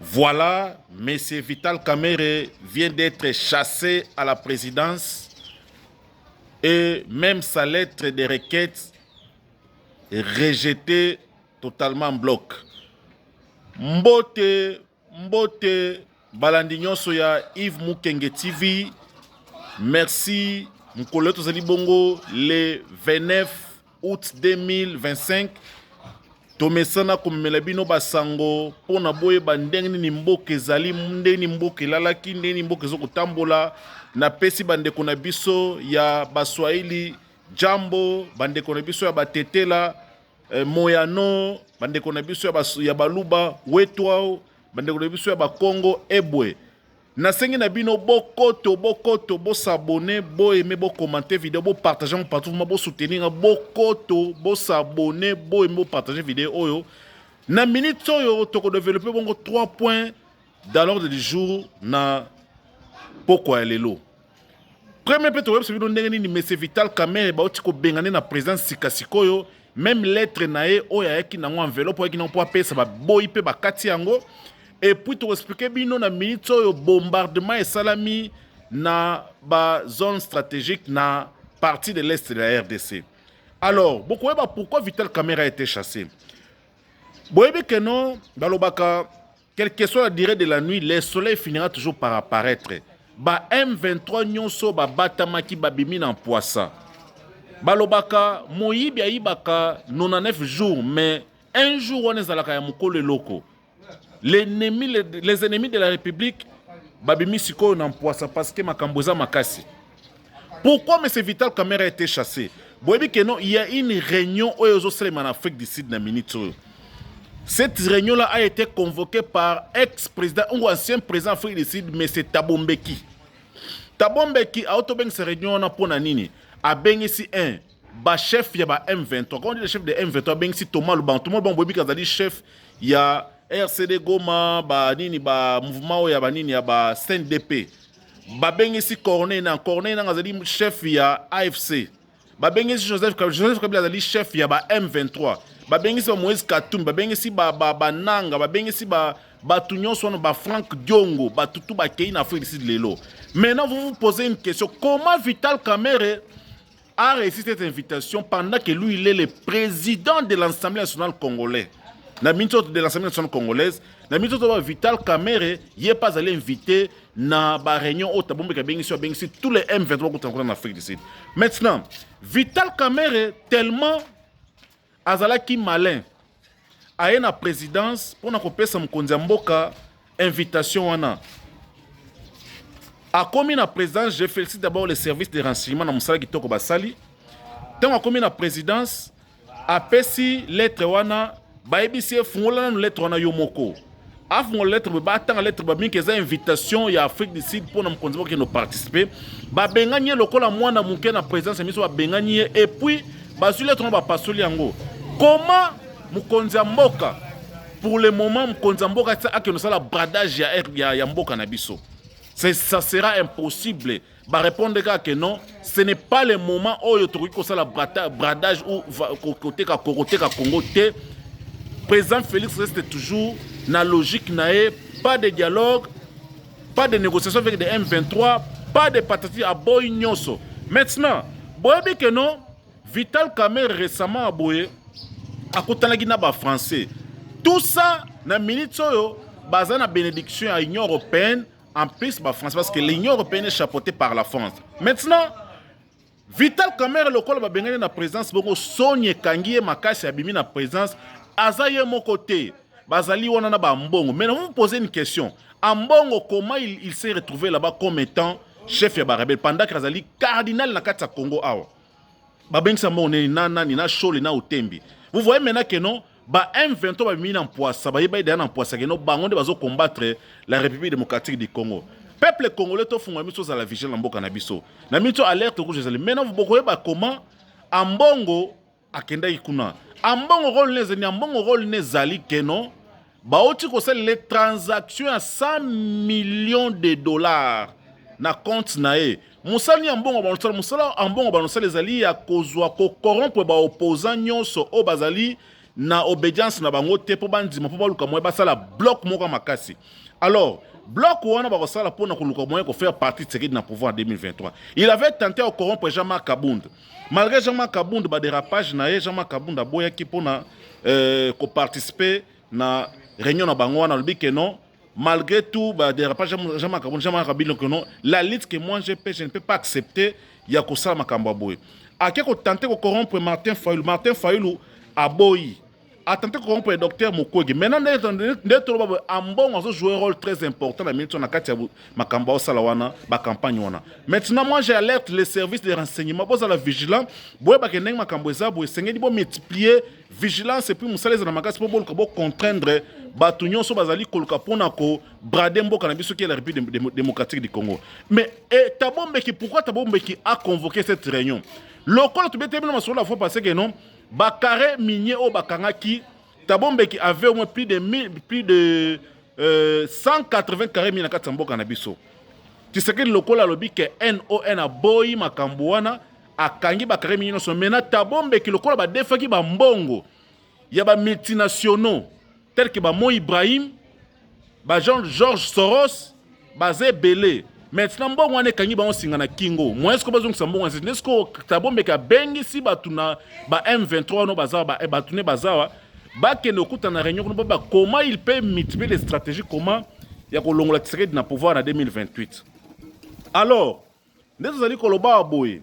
Voilà, M. Vital Kamere vient d'être chassé à la présidence et même sa lettre de requête rejetée totalement en bloc. Mbote, mbote, balandi nyonso ya Yves Mukenge TV. Merci. Mkolo tozali bongo le 29 aout 2025 tomesana komemela bino basango mpo na boyeba ndenge nini mboka ezali ndenge nini mboka elalaki ndenge nini mboka ezo kotambola napesi bandeko na biso ya baswahili jambo bandeko na biso ya batetela eh, moyano bandeko na biso ya, bas, ya baluba wetwao bandeko na biso ya bakongo ebwe Nasengi na bino bokoto bokoto bo s'abonner, bo aimer, bo commenter video, bo partager yango partout vraiment bo soutenir nga bokoto bo s'abonner, bo aimer, bo partager video oyo. Na minute oyo toko développer bongo 3 points dans l'ordre du jour na pokwa ya lelo. Premier mpe toyebisa bino ndenge nini Monsieur Vital Kamerhe bauti kobengane na présidence sika sikoyo meme lettre na ye oyo ayaki nango enveloppe ayaki nango mpo apesa baboyi mpe bakati yango epuis tokoexplike bino na minute oyo bombardement esalami na ba zone stratégique na partie de l'est de la rdc alors bokoyeba pourquoi vital camera ete chasse boyebi keno balobaka Quelle que soit la durée de la nuit, le soleil finira toujours par apparaître. Ba M23 nyonso babatamaki babimi na mpwasa. Balobaka moyibi ayibaka 99 jours mais un jour wana ezalaka ya mokolo eloko. L'ennemi les ennemis de la République babimi sikoyo na mpwasa parce que makambo eza makasi. Pourquoi monsieur Vital Kamerhe a été chassé? Boyebi que non, il y a une réunion oyo ezosalema na Afrique du Sud na minute oyo. Cette réunion-là a été convoquée par ex-président ou ancien président Afrique du Sud, M. Thabo Mbeki. Thabo Mbeki a otobengisa réunion wana mpo na nini? Abengisi un ba chef ya ba M23. Quand on dit le chef de M23, abengisi Thomas Lubango. Thomas Lubango boyebi azali chef ya RCD Goma, ba nini ba mouvement oyo ya ba nini ya ba CNDP. babengisi corneille nanga corneille nanga azali chef ya afc babengisi joseph kabila joseph kabila azali chef ya ba m23 babengisi ba moïse katumbi babengisi bananga babengisi ba bato nyonso wana bafrank diongo bato tu bakei na afrique du sud lelo maintenant vous vous posez une question comment vital kamere a reussi cette invitation pendant que lui, il est le président de l'Assemblée nationale congolaise. na minso de l'Assemblée nationale congolaise na minso to Vital Kamerhe ye pas allé inviter na ba réunion au tabombe ka bengisi bengisi tous les M23 ko tangona na Afrique du Sud maintenant Vital Kamerhe tellement Azalaki malin aye na presidence pona kopesa mokonzi ya mboka invitation wana akomi na présidence je félicite d'abord le service de renseignement na mosala kitoko basali ntango akomi na présidence apesi lettre wana bayebisi ye fungola nanu lettre wana yo moko afungola lettre boye batanga lettre bamingi eza invitation ya afrique du sud mpo na mokonzi bakende oparticipe babengani ye lokola mwana moke na présidence ya miso babengani ye epuis bazwi lettre yango bapasoli yango koma mokonzi ya mboka pour le moment mokonzi ya mboka akende osala bradage ya, ya, ya mboka na biso ça sera impossible ba répondre kaka que non ce n'est pas le moment oyo tokoki kosala bradage ou koteka kokoteka congo te président félix reste toujours na logique na ye pas de dialogue pas de négociation avec de m23 pas de patati aboyi nyonso maintenant boyebi que non vital kamer récemment aboye akutanaki na bafrançais tout ça na minute oyo baza na bénédiction ya union européenne En plus, bah, France, parce que l'Union européenne est chapeautée par la France. Maintenant, Vital Kamerhe lokola babengani na présence bongo soni ekangi ye makasi abimi na présence aza ye moko te bazali wana na bambongo mais vous posez une question ambongo comment il, il s'est retrouvé là-bas comme étant chef ya barebele pendant que azali cardinal na kati ya congo awa babengisa mbongo nini na nani na shole na otembi vous voyez maintenant que non ba M23 babimi na mpwasa bayebai deya na mpwasa que non bango nde bazo combattre la république démocratique du congo peuple congolais tofungola miso ozala vigile na mboka na biso na miso alerte rouge ezali maintenant bokoyeba comment ambongo akendaki kuna ambongo role ne ezali ambongo role ne ezali que non Bawuti kosalela ye transaction ya 100 millions de dollars na compte na ye. Mosala ya mbongo banosala mosala ya mbongo banosala ezali ya kozwa ko corrompre ba opposants nyonso oyo bazali na obedience na bango te mpo bandima mpo baluka moyen basala bloc moko makasi alors bloc wana bakosala mpo na koluka moyen kofaire partie Tshisekedi na pouvoir en 2023 il avait tenté ya kocorrompre Jean-Marc Kabund Malgré Jean-Marc Kabund ba dérapage na ye, Jean-Marc Kabund aboyaki pona euh, ko participer na réunion na bango wana alobi que non malgré tout ba dérapage Jean-Marc Kabund Jean-Marc Kabund que non la lutte que moi je peux je ne peux pas accepter ya kosala makambo ya boye. Ake ko tenter ko corrompre Martin Fayulu. Martin Fayulu aboyi. a tenté de corrompre le docteur Mukwege. Maintenant, Ndetoloba Ambongo a joué un rôle très important dans Milton Akatia Makamba Osalawana, la campagne. Maintenant, moi j'alerte les services de renseignement, vous allez vigilant, vous allez vigilant, Makambo Ezabu, Sengedi, vous multiplier vigilance et puis vous allez dans la magasin pour contraindre bato nyonso bazali koluka mpo na kobrade mboka na biso ki ya la république démocratique du congo mais eh, tabombeki pourquoi tabombeki a convoqué cette réunion lokola tobetemi na masolo la fois passé que non Ba carres miniers oyo bakangaki Thabo Mbeki avait au moins plus de, plus de euh, 180 carrés miniers na kati ya mboka na biso. Tshisekedi lokola alobi ke NON aboyi makambo wana akangi ba carrés miniers nyonso. Mena Thabo Mbeki lokola badefaki ba mbongo ya ba multinationaux tel que ba Mo Ibrahim ba Jean Georges Soros baza ebele maintenant mbongo wana ekangi bango singa na kingo moyen siko bazongisa mbongo wana nde siko tabombeke abengisi bato na ba m23 wana bazawa bato ne bazawa bakende okuta na réunion kuna baba comment il peut multiplier les stratégies comment ya kolongola tshisekedi na pouvoir na 2028 alors nde tozali koloba wa boye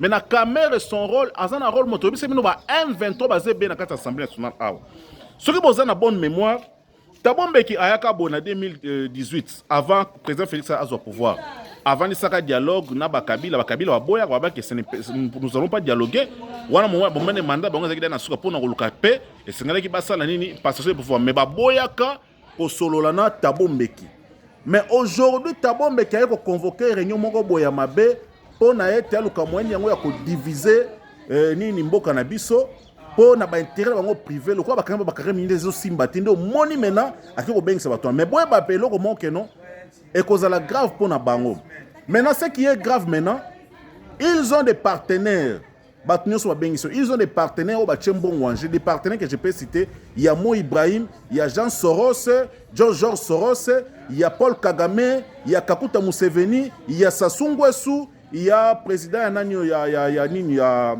mais na kamere son rôle aza na rôle moto oyebisa bino ba m23 baza ebele na kati ya assemblée nationale awa soki boza na bonne mémoire tabo mbeki ayaka boye na 2018 avant président félix azwa pouvoir avandisaka dialogue na bakabila bakabila baboyaka babaki nous allons pas dialoguer wana mowa bomene manda bango ezalaki da na suka mpo na koluka mpe esengelaki basala nini passation de pouvoir mais baboyaka kosolola na tabo mbeki mais aujourd'hui tabo mbeki aye koconvoke réunion moko boye ya mabe mpo na ete aluka moyeni yango ya kodivise eh, nini mboka na biso mpo na baintere na bango prive lokola bakangi bakare mingi nde ezosimba te nde omoni mena ake kobengisa bato wana mais boyeba mpe eloko moko keno ekozala grave mpo na bango maintenant ce qui est grave maintenant ils ont des partenaires Bato nionso ba bengisi yo. Ils ont des partenaires oyo batie mbongo en jeu. Des partenaires que je peux citer. Ya Mo Ibrahim, ya Jean Soros, John George Soros, ya Paul Kagame, ya Kakuta Museveni, ya Sassou Nguesso, ya president ya nani oyo ya, ya, ya nini ya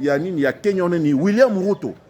ya nini ya Kenya nini William Ruto.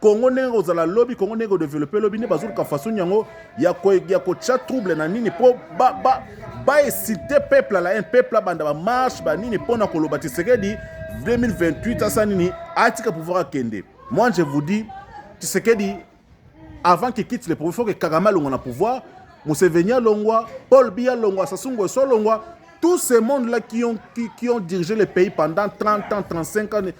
Congo ndenge kozala lobi Congo ndenge kodevelope lobi nde bazoluka façon yango ya kotya trouble na nini mpo baesite peuple ala un peuple abanda bamarche banini mpo na koloba tisekedi 2028 asa nini atika pouvoir akende moi je vous dis tisekedi avant qu'il quitte le pouvoir faut que kagame alongwa na pouvoir museveni alongwa paul biya alongwa sasungu eso alongwa tous ces mondes-là qui ont, qui, qui ont dirigé le pays pendant 30 ans, 35 ans,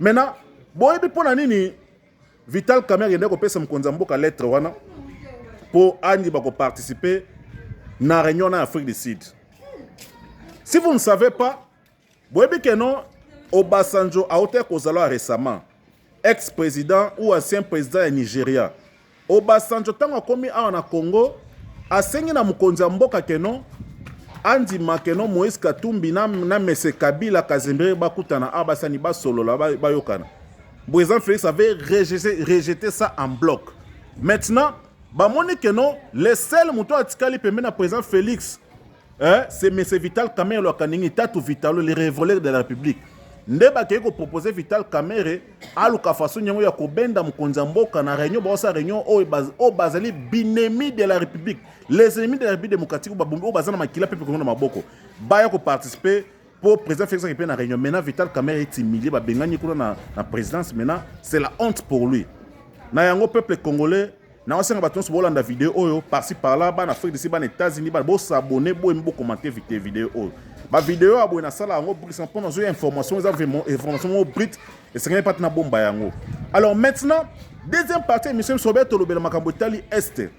Maintenant, boyebi mpo na nini Vital Kamerhe akendaki kopesa mokonzi ya mboka lettre wana mpo andiba koparticipe na réunion na Afrique du Sud. Si vous ne savez pas, boyebi ke non Obasanjo autaki kozala récemment ex-président ou ancien président ya Nigeria. Obasanjo ntango akomi awa na Congo asengi na mokonzi ya mboka keno andima keno Moïse Katumbi na, na Mese Kabila Kazembere bakutana awa basani basolola bayokana. Président Félix avait rejeté, rejeté ça en bloc. Maintenant, bamoni keno le seul moto atikali pembeni na président Félix Eh, c'est Monsieur Vital Kamerhe Loakanengi, Tatu Vitalo, le révolé de la République. nde bakei kopropose vital kamere aluka façon yango ya kobenda mokonzi ya mboka na réunion baosa réunion oyo oh, bazali oh, binemi de la république les ennemis de la république démocratique oyo oh, baza na makila mpe mpekongo na maboko baya koparticipe mpo président félix ake mpe na réunion maintenant vital kamere etimilie babengani kuna na, na présidence maintenant c'est la honte pour lui na yango peuple congolais naosenga bato nyonso bolanda video oyo parci parla bana afrique disi bana états-unis bana bosabone boyemi bokomante vite video oyo bavideo ya boye nasala yango brisa mpo nazoya information eza information moko brite esengeli mpate na bomba yango alors maintenant deuxième partie émission biso obe tolobela makambo etali este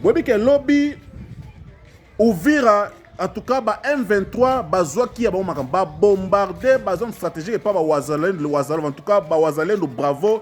boyebi ke lobi uvira en tout cas ba m23 bazwaki ya bango makambo babombarde bazone stratégique epa bawazalendo wazalendo en tout cas bawazalendo bravo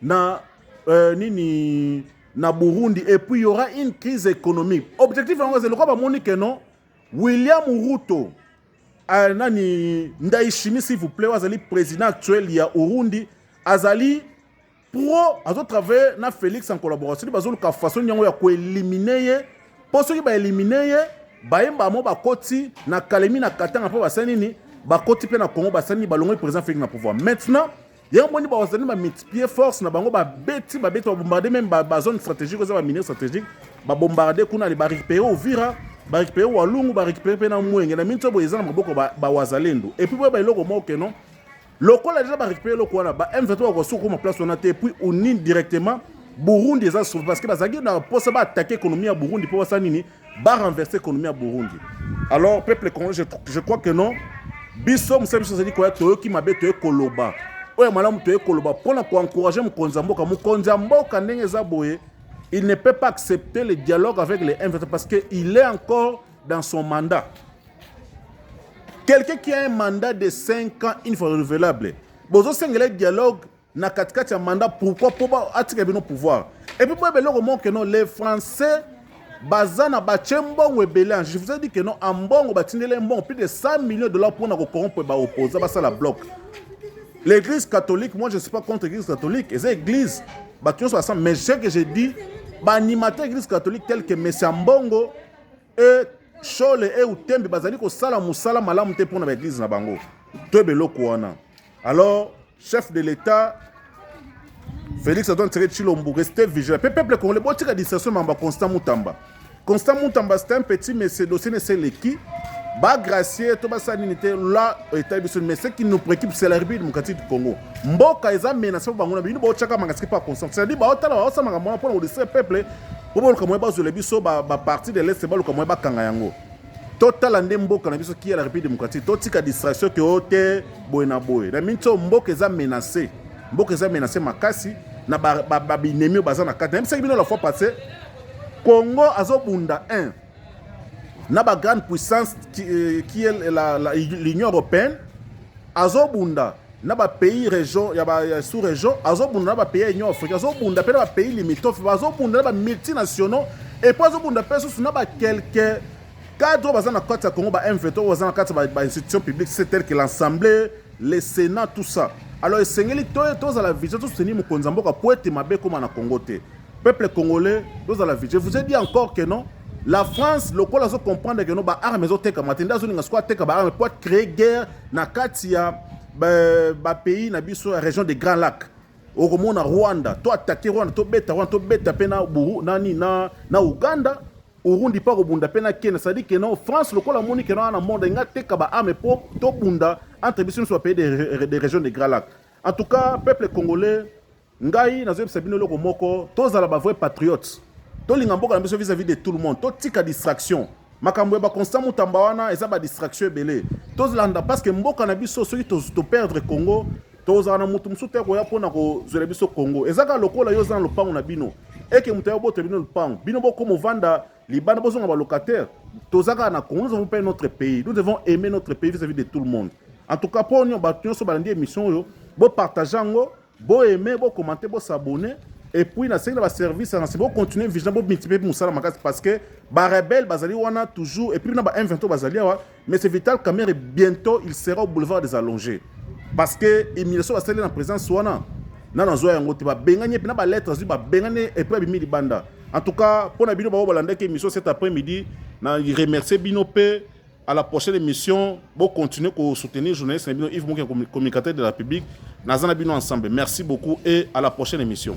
na euh, nini na Burundi et puis il y aura une crise économique. Objectif yango ezali lokola bamoni que non William Ruto euh, nani Ndayishimiye s'il vous plaît azali président actuel ya Burundi azali pro azo travailler na Felix en collaboration bazoluka façon yango ya koelimine ye mpo soki baelimine ye bayemba mo bakoti na kalemi na katanga mpo basali nini bakoti mpe na Congo basali nini balongoli président Felix na pouvoir maintenant yango moni bazali ba multiplier force na bango babeti babeti babombarde meme bazone stratégique oza baminier stratégique babombarde kuna le barécupere ovira barécupere walungu barécupere mpe na mwenge na minso boye eza na maboko bawazalendo ba epuis boyeba eloko moko ke non lokola deja barécupere eloko wana ba m23 bakosi kokoma place wana te epuis unine directement burundi eza sauve parce que bazalaki na mposa baattake économie ya burundi mpo basala nini ba renverser économie ya Burundi alors peuple congolais je, je crois que non biso mosala biso ezali koya toyoki mabe toye koloba oyo malamu toye koloba mpo na koencourage mokonzi ya mboka mokonzi ya mboka ndenge eza boye il ne peut pas accepter le dialogue avec les M23 parce que il est encore dans son mandat quelqu'un qui a un mandat de 5 ans une fois renouvelable bozosengela dialogue na katikati ya mandat pourquoi mpo atika bino pouvoir epuis boyeba eloko moko keno les français baza na batie mbongo ebele en je vous ai dit que non en mbongo batindeli mbongo plus de 100 millions de dollars mpo na kocorrompre baopposa basala bloc l'église catholique moi je suis pas contre l'église catholique eza église bato nyonso basala mais ce que je dis baanimateur église catholique tel que messia mbongo e shole e utembe bazali kosala mosala malamu te mpo na baeglise na bango toyeba eloko wana alors Chef de l'Etat Felix Antoine Tshisekedi Tshilombo, restez vigilant. Pe peuple congolais, botika distraction mamba Constant Mutamba. Constant Mutamba c'est un petit monsieur dossier ne sait qui. Ba gracier to ba sanini te là état biso mais ce qui nous préoccupe c'est la République démocratique du Congo. Mboka eza menace ba ngona bino bochaka mangasiki pa Constant. C'est-à-dire ba otala ba osama ngamo na pona ko distraire peuple. Bobo luka moye ba zole biso ba ba parti de l'est ba luka moye ba kanga yango. totala nde mboka na biso kia la république démocratique totika distraction ke o te boye na boye na minti oyo mboka eza menacé mboka eza menacé makasi na babinemi oyo baza na kati nayebisaki bino la fois passé congo azobunda 1 na bagrande puissance qui, euh, qui est l'union européenne azobunda na ba pays region ya ba sous region azobunda na ba pays ya union africaine azobunda mpe na ba pays limitrophe bazobunda na ba multinationaux epuis azobunda mpe susu na ba quelques cadre oyo baza na kati ya congo ba mvt oyo baza na kati ya ba institution publique c'est tel que l'assemblée le sénat tout ça alors esengeli tozala vision tosoutenir mokonzi ya mboka mpo ete mabe ekóma na congo te peuple congolais tozala vision vous ai dit encore que non la france lokola azo comprendre que no baarme ezotekama te nde azolinga sikoyo ateka baarme mpo acree guerre na kati ya ba pays na biso ya region de grand lac okomona rwanda to atake rwanda tobeta rwanda tobeta mpe na buru nani na, na uganda urundi mpe akobunda mpe na kenya sadi ke no france lokola amoni ke na monde enga teka baarme mpo tobunda entre biso nyonso bapays de, de région de grand lac en tout cas peuple congolais Ngai nazoyebisa bino eloko moko, tozala ba vrai patriote, tolinga mboka na biso vis-à-vis de tout le monde, totika distraction. Makambo ya ba constant mutamba wana eza ba distraction ebele, tozolanda parce que mboka na biso soki to perdre Congo tozala na mutu mosusu te akoya mpo na kozwela biso Congo. Eza kaka lokola yo oza na lopango na bino eke moto ya botela bino lopango, bino bokoma ovanda libanda bozonga ba locataire. Toza kaka na Congo, nous avons pas notre pays, nous devons aimer notre pays vis-à-vis de tout le monde. En tout cas, mpo bato nyonso balandi émission oyo, bo partage yango Bo aimer, bo commenter, bo s'abonner. Et puis, na sengi na ba service na bo continuer vision bo multiplier musala makasi parce que ba rebelles bazali wana toujours et puis na ba M23 bazali awa mais c'est Vital Kamerhe bientôt il sera au boulevard des allongés parce que humiliation ba sali na présence wana na na zoya yango te ba bengani pe na ba lettres azui ba bengani et puis abimi libanda en tout cas pona bino ba balandaki émission cet après-midi na remercier bino pe à la prochaine émission bo continuer ko soutenir journaliste na bino Yves Mokia communicateur de la République nazana bino ensemble merci beaucoup et à la prochaine émission